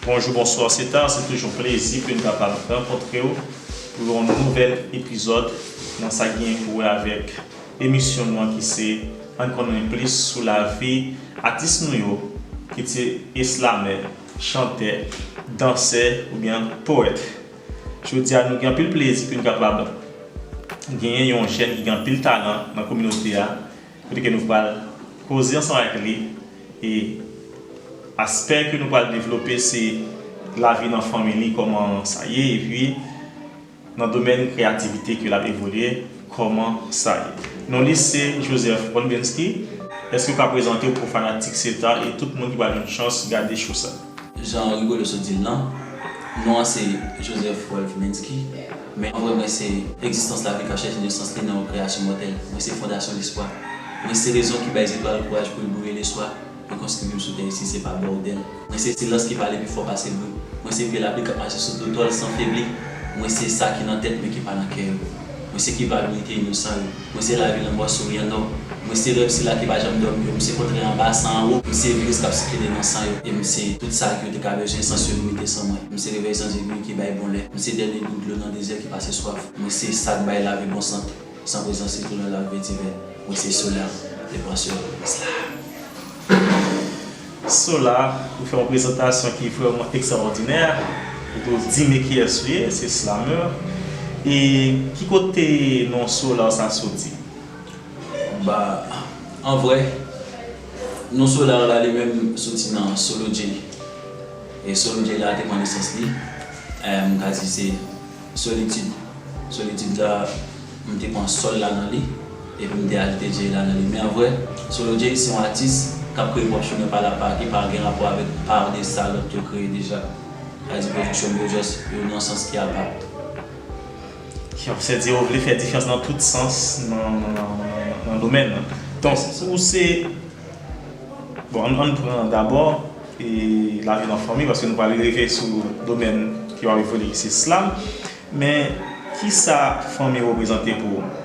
Bonjou bonswa Setan se toujou yon plezi pou n kapab rankontre w pou yon nouvèl epizòd nan sa ki gen pou wè avèk emisyon nou an ki se ann konnen plis sou lavi atis nou yo ki te eslamè, chantè, dansè oubyen powèt. Jodi a nou gen anpil plezi pou n kapab genyen yon jèn ki gen anpil talan nan kominote a Kote ke nou pral koze ansanm avèk li e aspè ke nou pral devlope se lavi nan fanmi li kòman sa ye epi nan domèn kreyativite ke lap evolye kòman sa ye. Non li se Joseph Olbensky. Eske w ka prezante w pou fanatik CETA e tout moun ki pral jwenn chans gade show sa? Jan Rigolo sot di l lan, non an se Joseph Rolph Minsky, men an vrè mwen se Egzistans Lavi Kache Jis nan Sans Li nan yon Kreyasyon Mòtèl. Mwen se Fondasyon Lespwa. Mwen se rezon ki bay zetwal kouraj pou l briye leswa e konstwi vim sou tè isi se pa bòdèl. Mwen se silans ki pale pi fò pase bri. Mwen se pye lapli k ap mache sou dotòl san febli. Mwen se sa ki nan tèt men ki pa nan kè yo. Mwen se kivalorite inosan yo. Mwen se lavi lanmò souryan nò Mwen se rèv sila ki pa janm dòmi yo M se kontrè anba san anwo M se viris kap sikile nan san yo E m se tout sa ke yo te ka bezwen San syo limite san mwen M se revèy san zegwi ki bay bon lè M se dènye gout dlo nan dezè ki pase swaf Mwen se sa k bay lavi bon sant San prezans li tou lè lavi vetivè Mwen se soulyan, le pran syo, Mwen se la. Sola, ou fè yon prezantasyon ki vrèman ekstrawòdinè. Ou te di me kiyès ou ye, se Slameur. E ki kote non Solar sa soti? Ba, an vrè, non Solar la li menm soti nan Solo J. E Solo J la te pran nesans li, m ka di se. Solitid, solitid la, m te pran sol la nan li, epi m te ajoute Jay la nan li. Men an vrè, Solo Jay se yon atis k ap kreye pwòp chimen pa l apa, ki pa gen rapò avèk par de sa lòt yo kreye deja. Sa vle di pwodiksyon m yo jòs yo nan yon sans ki apa. Yon sè di ou vle fè difyans nan tout sans nan domèn nan. Donk, ou se, bon, an n pran dabò. e lavi nan fanmi paske nou pral rive sou domèn ki pral evolye ki se slam men kisa fanmi reprezante pou ou?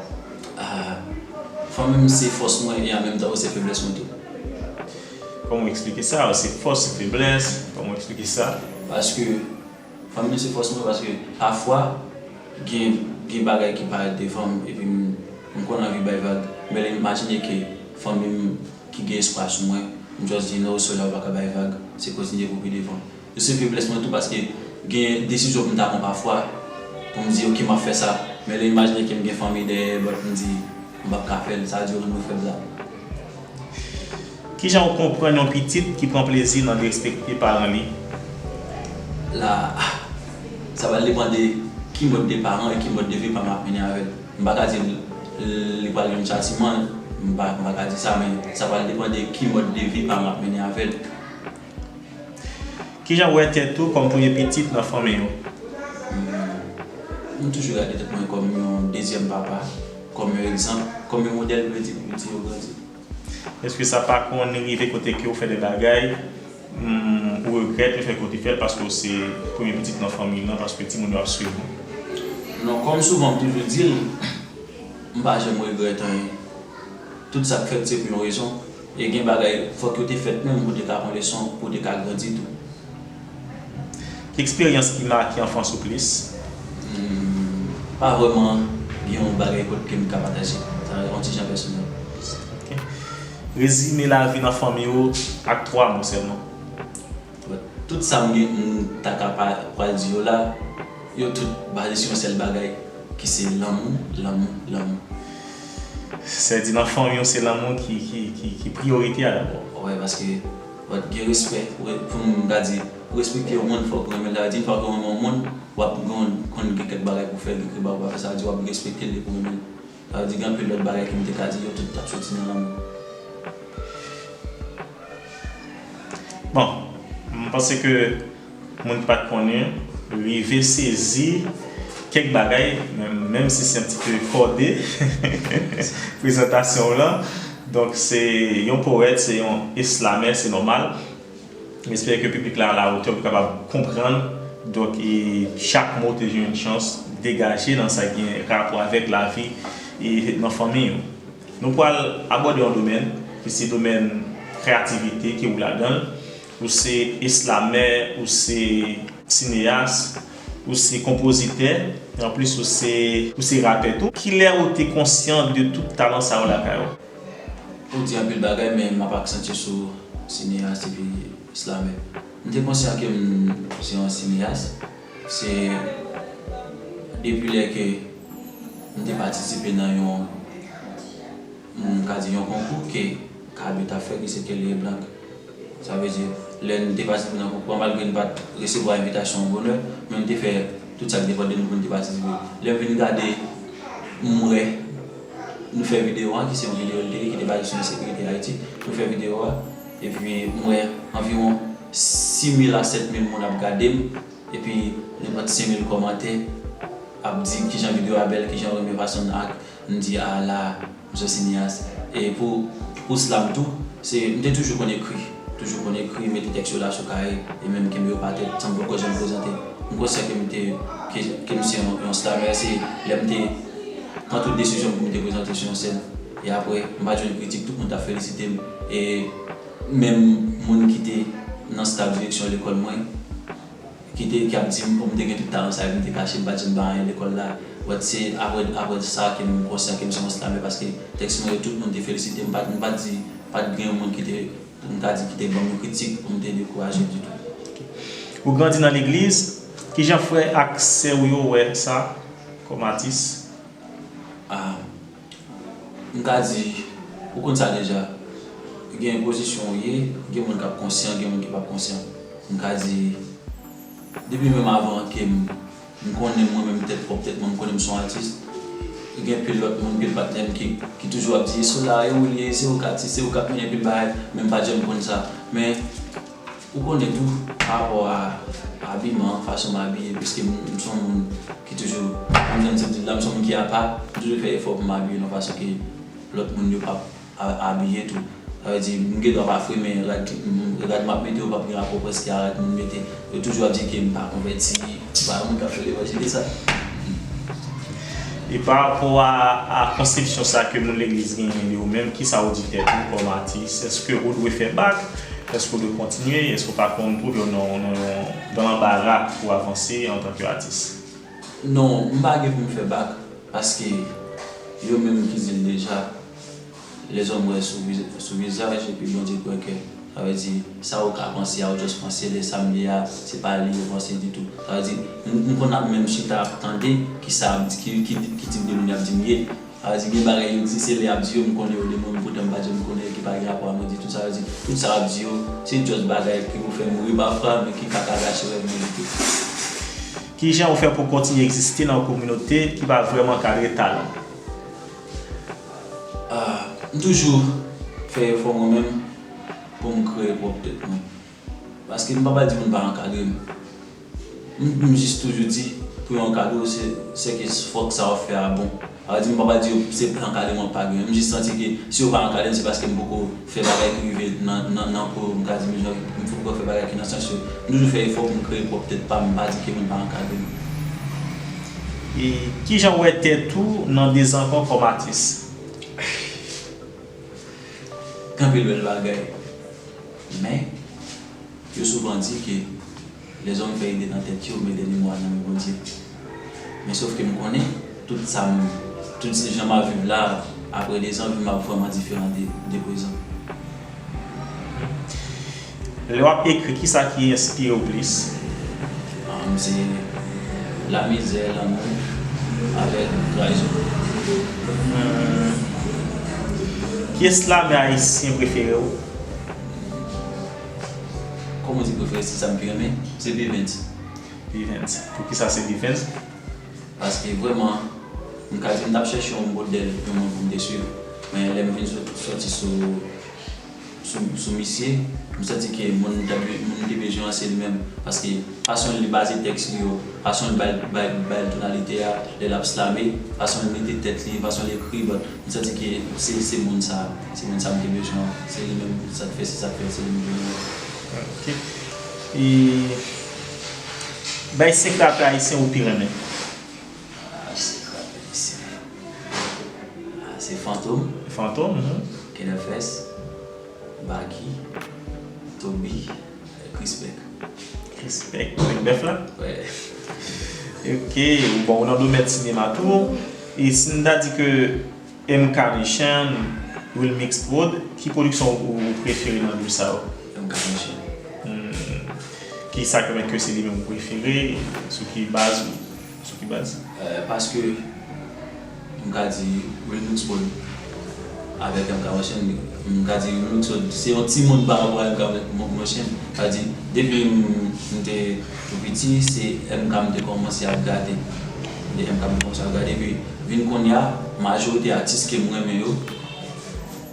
Fanmi m se fòs mwen e an menm tan yo se feblès mwen tou. Kòman ou eksplike sa? Yo se fòs, se feblès, kòman ou eksplike sa? Paske fanmi m se fòs mwen paske pafwa gen bagay ki parèt devan m epi m konn anvi bay vag men lè m imajine ke fanmi m ki gen espwa sou mwen, m just di no sir ou pa ka bay vag, se kontinye pou pi devan. Yo se feblès mwen tou paske gen desizyon pou m ta pran pafwa pou m di ok map fè sa, men lè imajine ke m gen fanmi dèyè but m di m pap ka fè l, sa dure mwen fèb la. Kijan ou konprann yon pitit ki pran plezi nan derespekte paran li? La a, sa pral depan de ki mòd de paran e ki mòd de vi paran ap mennen avè l. M pa ka di li pral jwenn chatiman l, m pa ka di sa men sa pral depan de ki mòd de vi paran ap mennen avè l. Kijan w wè tèt ou kòm premye pitit nan fanmi ou? M toujou gade tèt mwen kòm yon dezyèm papa, kòm yon egzanp, kòm yon modèl pou mete pi piti yo grandi. Eske sa pa konn rive kote kew fè de bagay ou regrèt le fè kew te fèl paskew se premye pitit nan fanmiy lan paske timoun yo ap swiv ou? Non, kòm souvan m toujou dil, m pa janm regrèt anyen. Tout sak fèt se pou yon rezon e gen bagay fòk yo te fèt menm pou te ka pran leson, pou te ka grandi tou. Eksperyans ki make anfans ou plis? Hum pa vrèman gen yon bagay kot kem ka pataje. Sa yon ti jan pèsonèl. Ok. Rezime lavi nan fanmi ou ak 3 mo sèlman. Bon, tout sa m gen m ta ka pa pral di yo la, yo tout baze sou yon sèl bagay ki se lanmou, lanmou, lanmou. Sè di nan fanmi w se lanmou ki priyorite a dabò. Wè paske. Wap t gen respè ou ret pou moun mta di pou respekte yon moun fòk ou renmenl sa vle di fòk ou renmen yon moun wap t gon konn gen kèk bagay pou fèl gen kèk bagay ou pa fè sa vle di wap respektel depi ou renmenl sa vle di gen anpil lòt bagay kem t ka di yo tout tap soti nan lanmou. Bon, m panse ke Moun pat konnen rive sezi kèk bagay menm si se yon ti peu kòde prezantasyon w lan donk se yon powèt se yon eslamè se nòmal m espere ke piblik la alawotè pou kapab konprann donk chak mo te jwenn chans degaje nan sa gen rapò avèk lavi e nan fanmi yo nou pwal abòde yon domèn ki se domèn kreyativite ki wou ladan l. Ou se eslamè, ou se sineyas, ou se konpozitè, anplis ou se ou se rapè tou. Kilè ou te konsyan de tout talan sa yo lakay ou? Ou di anpil bagay men m ap aksantye sou sineyas epi eslamè. M te konsyan ke m se yon sineyas, se depi lè ke m te patisipe nan yon. M ka di yon konkou ke Kaby ta fè ki se Kelly et Blanc. Sa vle di, lè n te patisipe nan konkou an, malgre n pa t resevwa envitasyon an bonè, men n te fè tout sa k depann de nou pou n te patisipe. Lè m vin gade, m wè nou fè videyo an, ki se yon videyo LTV ki te baze sou ensekirite Ayiti. Nou fè videyo a, epi m wè anviwon 6000 a 7000 moun ap gade m, epi nenpòt 5000 kòmantè ap di kijan videyo a bèl, kijan yo renmen fason n ak. M di a la Msye Cineas e pou pou slam tou se m te toujou konn ekri toujou konn ekri mete tèks yo la sou kaye e menm kenbe yo pa tè san m poko janm prezante m konsyan ke m te ke ke m se yon slamè se lè m te pran tout desizyon m pou m te prezante sou yon sèn e aprè m pa t jwenn kritik tout moun t ap felisite m e menm moun ki te nan staf direksyon lekòl mwen. Kite ki ap dim oh m te gen tout talan sa epi m te kache m pa janm bay anyen lekòl la but se aprè aprè sa ke m konsyan ke m se yon slamè paske tèks mwen yo tout moun te felisitem m pat m pat di pat gen yon moun ki te pou m ta di ki te banm yon kritik pou m te dekouraje ditou. Ou grandi nan legliz, kijan frè ak sè ou yo wè sa kòm atis? Ah. M ka di, ou konn sa deja, gen pozisyon ou ye, gen moun k ap konsyan, gen moun ki p ap konsyan. M ka di, depi menm avan ke m konnen mwen menm tèt pwòp tèt mwen, m konnen m se yon atis, gen anpil lòt moun, anpil patnè m ki toujou ap di, Sola, e ou l ye? Se ou k atis, se ou k ap mennen anpil bagay. Men m pa t janm konn sa. Men, Ou konnen tou, pa rapò a abiman, fason m abiye, piske m m son moun ki toujou, menm jan m te di l la, m son moun ki apa, m toujou fè efò pou m abiye yon fason ke lòt moun yo p ap abiye tou. Sa vle di, m gen dwa pa fre men rad m ap mete yo p ap gen rapò prèske a rad moun mete. Yo toujou ap di ke m pa konvèti. Se pa moun kap fè levanjil esa. E pa rapò a konsepsyon sa ke moun legliz genyen de ou menm, kisa ou di tèt ou kòm atis? Eske ou dwe fè bak? Eske ou dwe kontinye? Eske ou pa konn twouve w nan yon gran anbara pou avanse antan ke atis? Non, m pa gen pou m fè bak, paske yo menm ki di l deja. Lèzòm wè sou vizaj epi Bondye kwè kè. Sa vle di, sa ou ka panse a, ou just panse lè sa m li a, se pa li ou panse ditou. Sa vle di, m konn ap menm chita ap tande ki sa ap ki tip de moun y ap di m ye. Sa vle di gen bagay yo di se lè y ap di yo m konnen yo de moun poutèt m pa janm konnen yo ki pa gen rapò a mwen ditou. Sa vle di, tout sa y ap di yo, se just bagay ki pou fè m ri pafwa men ki pa ka gache rèv mwen ditou. Kijan ou fè pou w kontinye egziste nan yon kominote ki pa vrèman kadre talan w? M toujou fè efò mwen menm pou m kreye pwòp tèt mwen. Paske m pa pral di moun pa ankadre m. M jis toujou di pou yo ankadre w se ke fòk sa w ap fè a bon. M pa pral di yo se ankadreman w pa gen. M jis santi ke si yo pa ankadre m se paske m poko. Fè bagay ki rive nan nan po yo, m ka di menm jan m fin pran fè bagay ki nan sans yo. M toujou fè efò pou m kreye pwòp tèt pa m, m pa di ke moun pa ankadre m. E kijan w wè tèt ou nan 2 zan ankò kòm atis? Gen anpil bèl bagay. Men, yo souvan di ke. Lèzòm fè ide nan tèt yo, mete memwa nan men Bondye. Men sof ke m konnen, tout sa m, tout se jan m ap viv la a, apre dezan, vi m ap vrèman diferan de, de prezan. Lè w ap ekri, kisa ki enspire w plis? Am, se lamizè, lanmou, avèk trayizon. Pyès lame ayisyen prefere w? Kòm ou di prefere stil sa m pi renmen se Bivens. Bivens. Poukisa se Bivens? Paske vrèman m ka di m t ap chèche yon modèl, yon moun pou m te swiv. Men lè m vin soti sou misye, m santi ke moun m te bezwen an se li menm. Paske fason li baze tèks li yo, fason li bay l tonalite a lè l ap slame, fason l mete tèt li, fason l ekri. M santi ke se se moun sa, se moun sa m te bezwen an, se li menm sa k fè si sa k fè se li m vle yo. Ok e bay 5 rape ayisyen ou pi renmen. Ahh 5 rape ayisyen ahh se fantom. Fantom uhmm. Kenèfès, Baky, Toby. Krispek. Krispek kwenk bèf la? Wè. Ok, bon ou nan domèn sinema tou. E si n ta di ke MK Mechan, Wilmix Prod, ki pwodiksyon ou prefere nan de sa yo? MK Mechan. Kisa ki fè ke se li menm ou prefere? Sou ki baz ou? Sou ki baz? Paske m ka di Remix Prod avèk MK Monchaine, m ka di Remix Prod se yon timoun pa rapò a MK Monchaine. Sa di, depi m te tou piti, se MK m te kòmanse ap gade. De MK m te kòmanse ap gade. Epi vin kounye a, majorite atis ke m renmen yo,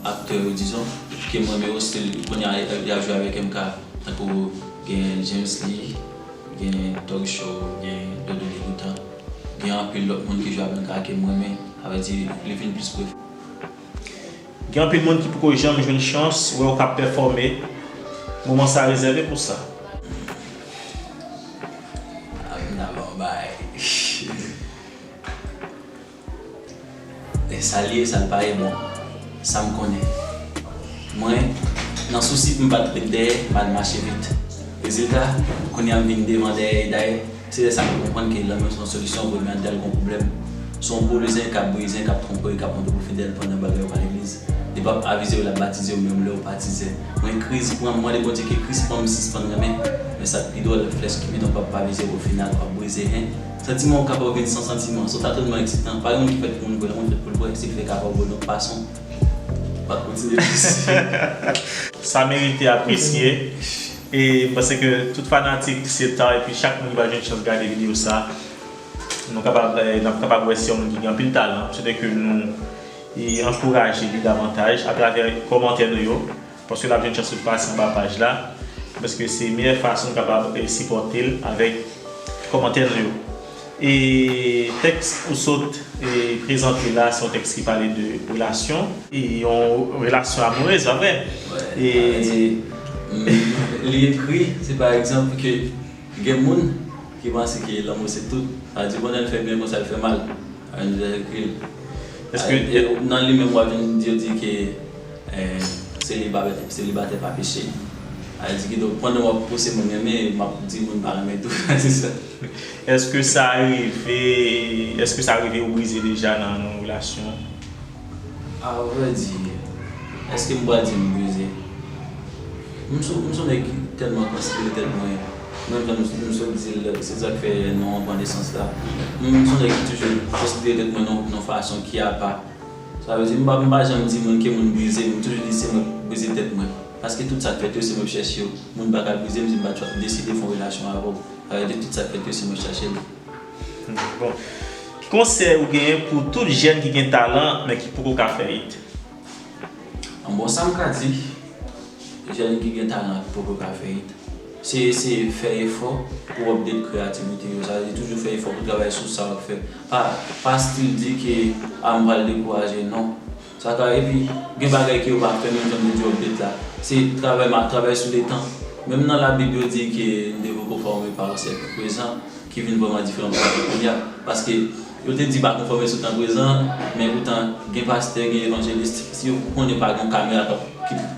aktè yo dizon, ke m renmen yo, se kounye a y ap jwe avèk MK. Tankou gen James Lee. Gen Thug Show, gen Dodo Degoutan. Gen anpil lòt moun ki jwe avèm ka kem renmen. Sa vle di li vin plis pwofesyonèl. Gen anpil moun ki poko janm jwenn chans wèw kap pèfòme. Moman sa rezève pou sa. Ap vin avèw bay. E sa l ye, sa l pa ye, bon, sa m konnen. Mwen, nan sousi pou m pa t ret dèyè, m al mache vit. Rezilta, kounye a m vin devan dèyè e dayè, se lè sa m te konprann ke lanmou se yon solisyon pou emèntal yon pwoblèm. Se yon boulizen k ap brizen, k ap twonpe w, k ap montre w pou fidèl pandan bagay yo pa legliz. Li p ap avize w, l ap batize w menm lè w pa tizè. Mwen, kriz pran m, m mande Bondye ke kriz pran m, m sispann renmen. Men sa k pi dwòl, flèch ki pi donk w ap pa vize w ofinal, w ap brize, hein? Santiman ou kapaw gen san santiman, sof sa tèlman eksitan, pa gen moun ki fèt pou moun bwè, moun fèt poul bwè, sil fè kapaw bwè lòt fason, wap kontinye visye. Sa merite apresye e m panse ke tout fanatik se ta epi chak moun ki pa jwenn chans gade video sa nou kapab nap kapab wè se yon moun ki gen anpil talan m swete ke nou ankouraje li davantaj atravè kòmantè nou yo. Paske lap jwenn chans sot pase anba paj la paske se meyè fason kapab sipòtel avèk kòmantè nou yo e tèks ou sot prezante la se yon tèks ki pale de relasyon e yon relasyon amourèz pa vre e li ekri si pa egzanp ke gen moun ki panse ke lanmou se tout sa di bonè l fè byen konsa l fè mal. Angelecul Eske nan li menm wap vin di yo di ke selibatè pa peche? Sa vle di kidonk pandan wap pouse moun renmen map di moun pa renmen tou sa se sa? Eske sa rive eske sa rive ou brize deja nan yon relasyon? A vrai dire, eske m pral di m bwize? M sou m sou nèg ki tèlman konsidere tèt mwen, menm jan m m sot di l, se sa k fè non an pran nesans la. M m sou nèg ki toujou konsidere tèt mwen nan yon fason ki apa. Sa vle di m pa m pa janm di moun ke moun bwize m, m toujou di se mwen k bwize tèt mwen. Paske tout sa k fèt yo se mwen k chèche yo. Moun pa ka bwize m si m pa deside fè yon relasyon avè w. Sa vle di tout sa k fèt yo se mwen k chache l. Bon, ki konsèy ou genyen pou tout jèn ki gen talan men ki poko ka fè it? Bon sam ka di jèn ki gen talan ki poko ka fè it, se eseye fè efò pou update kreyativite yo, sa vle di toujou fè efò pou travay sou sa wap fè, pa pa still di ke ah m pral dekouraje non, Sa ka epi gen bagay ke yo pa fè menm janm te di update la se travay map travay sou letan menm nan la bib yo di ke nou te poko fòme pa yon syèk prezan ki vin vrèman diferan pou syèk kounya paske yo te di pa konfòme sou tan prezan men poutan gen pastè gen evangeliste si yo konnen pa gen yon kamera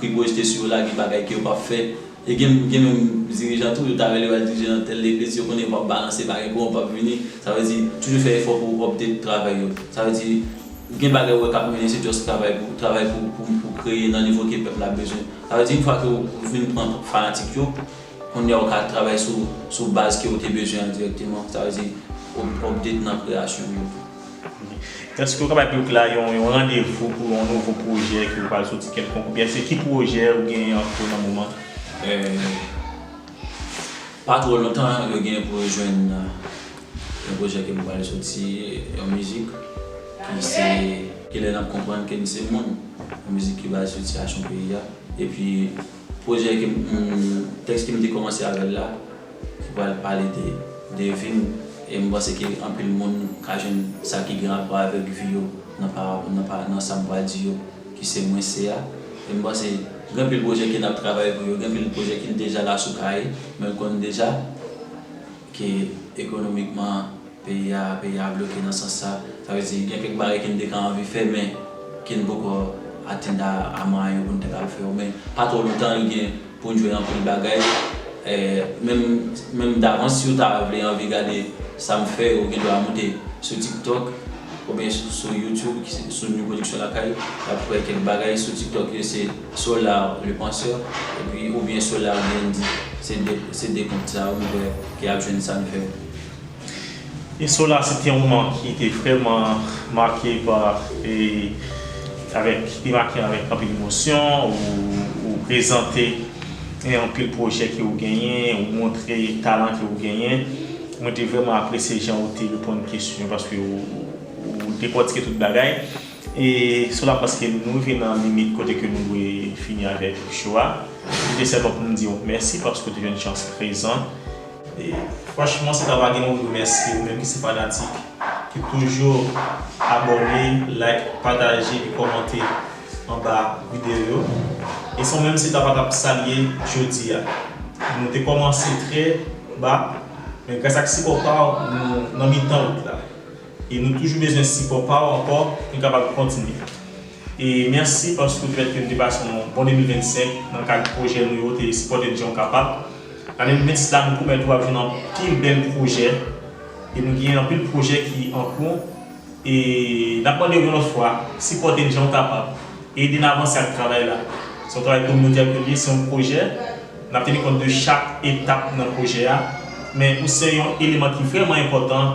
ki pwojte sou yo la gen bagay ke yo pap fè. E gen gen menm dirijan tou yo ta rele yo al dirije nan tèl legliz yo konnen yo pap balanse pa gen kouran pap vini sa vle di toujou fè efò pou update travay yo sa vle di gen bagay ou wè kap mennen se just travay pou travay pou pou pou kreye nan nivo ke pèp la bezwen sa vle di yn fwa ke ou fin pran fanatik yo konnya ou ka travay sou sou baz ke ou te bezwen an dirèkteman sa vle di update nan kreyasyon yo. Èske ou ka bay piblik la yon randevou pou yon nouvo pwojè ke ou pral soti kèlkonk oubyen se ki pwojè ou genyen an kou nan moman? Pa twò lontan yo genyen pou yo jwenn yon pwojè ke m pral soti, yon mizik ki se Ki lè n ap konprann ke n se moun, yon mizik ki baze sou sitiyasyon peyi a. Epi pwojè ke m, tèks ke m te kòmanse avè l la, ki pral pale de de vi m e m panse ke anpil moun ka jwenn sa ki gen rapò avèk vi yo nan parab nan pa nan sa m pral di yo ki se mwen se a e m panse gen anpil pwojè ke n ap travay pou yo gen anpil pwojè ki deja la sou kaye men m konnen deja ke ekonomikman Peyi a, peyi a bloke nan sans sa. Sa vle di gen kèk bagay ke n te ka anvi fè men ke n poko atenn a a mwayen yo pou n te ka al fè yo. Men pa twò lontan li gen pou n jwenn anpil bagay. Menm menm davans si ou ta vle anvi gade sa m fè ou gen dwa moute sou tiktok oubyen sou youtube ki se sou Nu Production Lakay w ap wè kèk bagay. Sou tiktok yo se Solar le penseur epi oubyen Solar BND. Se de se de kont sa yo m kwè ke y ap jwenn sa n fè. Eso la se te yon moman ki te vrèman make pa e avèk ki te make avèk anpil emosyon ou prezante e anpil pwojè ke ou genyen ou montre talan ke ou genyen mwen te vrèman apresye jan ou te reponn kesyon paske ou dekòtike tout bagay e sou la paske nou rive nan limit kote ke nou dwe fini avèk cho a se te sèlman pou m di w mèsi paske ou te jwenn chans prezan. Franchman se pa bagay mwen remèsye ou menm ki se fanatik ki toujou abòne, like, pataje e kòmante anba videyo yo. E san ou menm se ta pa tap salye jodi a. Nou te kòmanse trè ba men gras ak sipò pa ou nou nan mitan wout la. E nou toujou bezwen sipò pa w ankò pou n kapab kontinye. E mèsi paske ou te pèmèt ke n te pase yon bon 2025 nan kad pwojè nou yo, te sipòte n jan w kapab. Nan 2026 la nou pwomèt ou ap jwenn anpil bèl pwojè e nou gen anpil pwojè ki an kou. E n ap mande w yon lòt fwa, sipòte n jan w kapab, ede n avanse ak travay la. Se yon travay kominotè ke l ye, se yon pwojè. N ap teni kont de chak etap nan pwojè a. Men ou se yon eleman ki vrèman enpòtan.